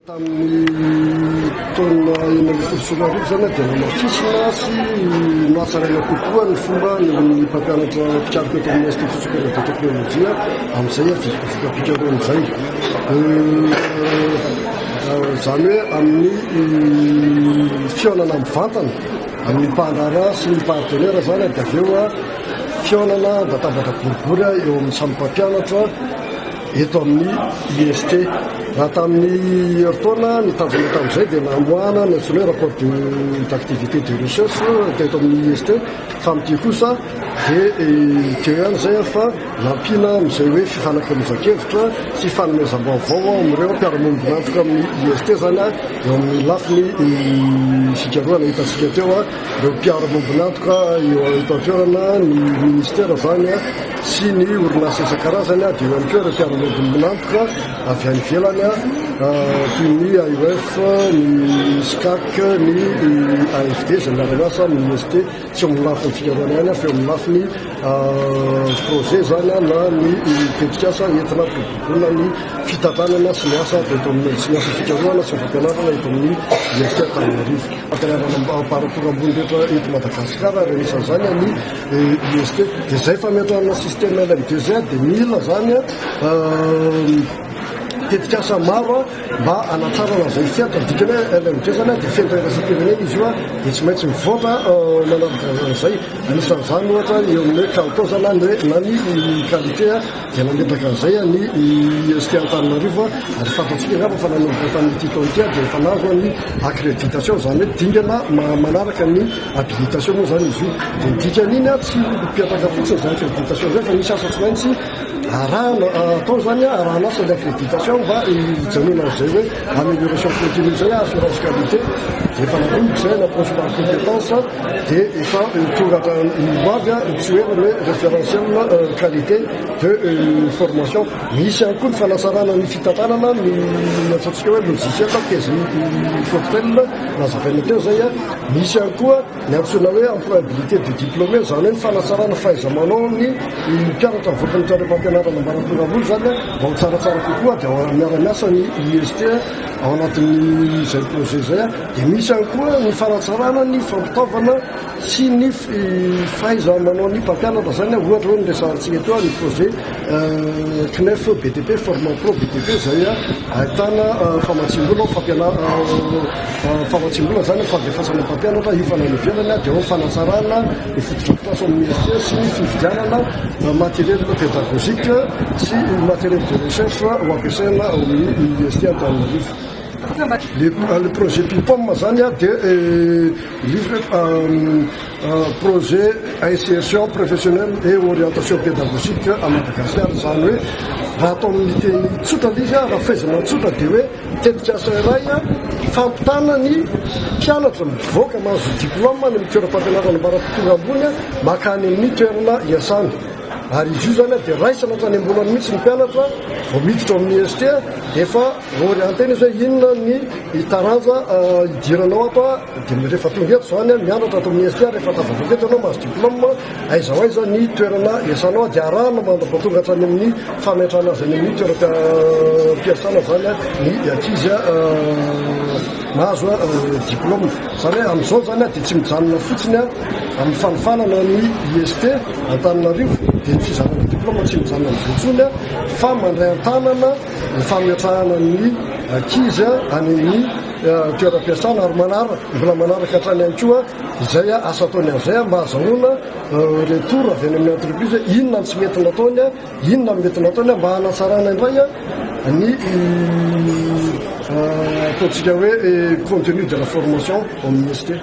Tamin'ny taona enina ambin'ny folo sy roa arivo izany dia namafisina sy nahatsaraina kokoa ny fomba eo amin'ny mpampianatra mpikaroka eto amin'ny Institut supérieur de technologie amin'izay voka-pikarohana izay. Izany hoe amin'ny fihaonana mivantana amin'ny mpandrara sy ny partenaire izany dia avy eo fihaonana vatabatra boribory eo amin'ny samy mpampianatra eto amin'ny IST. Raha tamin'ny herintaona nitazona tamin'izay dia namoahana ny antsoina hoe rapport de d'activité de recherche teto amin'ny IST fa amin'ity kosa dia teo ihany izay fa nampiana amin'izay hoe fifanakalozan-kevitra sy fanomezam-baovao amin'ireo mpiara-monina antoka amin'ny IST izany eo amin'ny lafiny fikarohana hitantsika teo Ireo mpiaro lombin'antoka eo eto an-toerana, ny ministera izany sy ny orinasa isan-karazany, dia eo ihany koa ireo mpiaro lombin'antoka avy any ivelany toy ny AUF, ny SCAC, ny AFD izay miara-miasa amin'ny IST, tsy eo amin'ny lafiny fikarohana ihany fa eo amin'ny lafiny projet izany na ny tetikasa entina hampibodoana ny fitantanana sy ny asa ato amin'ny sy ny asa fikarohana sy ny fampianarana eto amin'ny IST Antananarivo. Fampianarana ampaham-paratoa ambony indrindra eto Madagasikara ary anisan'izany ny IST. Dia izay fametrahana système LMDG dia mila izany tetikasa maro mba hanatrarana izay fiantra. Ny dikany hoe LMDG izany dia fenitra iraisam-pirenena izy io dia tsy maintsy mivoatra manaraka izay. Anisan'izany ohatra eo amin'ny hoe kalitao izany na ny qualité. Dia nangataka an'izay an'i IST Antananarivo ary fantatsika angamba fa nanomboka tamin'ity taona ity ary dia efa nahazo ny accréditation, izany hoe dingana manaraka ny habilitation moa izany izy io. Dia ny dikan'iny tsy mipetaka fotsiny izay accréditation izay fa misy asa tsy maintsy arahana, atao izany arahana asa ilay accréditation mba hijanonana amin'izay hoe amélioration continue izay, assurance qualité, dia efa nanomboka izay, na approche par compétence. dia efa tonga hatramin'ny ho avy ny tsy hoe le référentiel qualité de formation. Misy ihany koa ny fanasarana ny fitantanana ny ataontsika hoe logiciel tezin'ny cocktail nazavaina teo izay. Misy ihany koa ny antsoina hoe employabilité du diplômé, izany hoe ny fanasarana fahaiza-manao ny mpianatra mivoaka ny tranompampianarana ambaratonga ambony izany mba ho tsaratsara kokoa dia miara-miasa ny IST ao anatin'izay projet izay. Dia misy ihany koa ny fanatsarana ny fampitaovana sy ny fahaiza manao ny mpampianatra izany a, ohatra hoe ny resahantsika teo ny projet CNEF BTP Format Pro BTP izay ahitana famatsiam-bola ho fampianarana famatsiam-bola izany ho fandefasana mpampianatra hiofana any ivelany a, dia ao ny fanatsarana ny fotodrafitrasa ao amin'ny ministère sy ny fividianana matériel pédagogique sy matériel de recherche ho ampiasaina ao amin'ny université Antananarivo. Le projet Pipom zany a dia livre projet insertion professionnelle et orientation pédagogique à Madagascar izany hoe raha atao amin'ny teny tsotra le izy a, raha faizana tsotra dia hoe tetik'asa iray a fampitana ny mpianatra mivoaka mahazo diplôme any amin'ny toeram-pampianarana ambara tonga ambony a maka any amin'ny toerana iasany ary izy io zany a dia raisana hatrany am-bolany mihitsy ny mpianatra vao miditra ao amin'ny IST efa Vao re antena izy hoe inona ny taranja hidiranao ato dia rehefa tonga eto izany an, mianatra ato amin'ny IST, rehefa tafavoaka eto ianao mahazo diplôme, aiza ho aiza ny toerana hiasànao dia arahana mandra-paha tonga hatrany amin'ny fametrahana azy any amin'ny toeram-piasana izany ny ankizy mahazo diplôme. Izany hoe amin'izao izany dia tsy mijanona fotsiny amin'ny fanofanana ny IST Antananarivo dia ny fizarana diplôme tsy mijanona amin'izay intsony fa mandray an-tànana ny fametrahana ny ankizy any amin'ny toeram-piasana ary manaraka mbola manaraka hatrany ihany koa izay asa ataony amin'izay mba hazahoana retour avy any amin'ny entreprise inona no tsy mety nataony inona no mety nataony mba hanatsarana indray ny ataontsika hoe contenu de la formation au ministère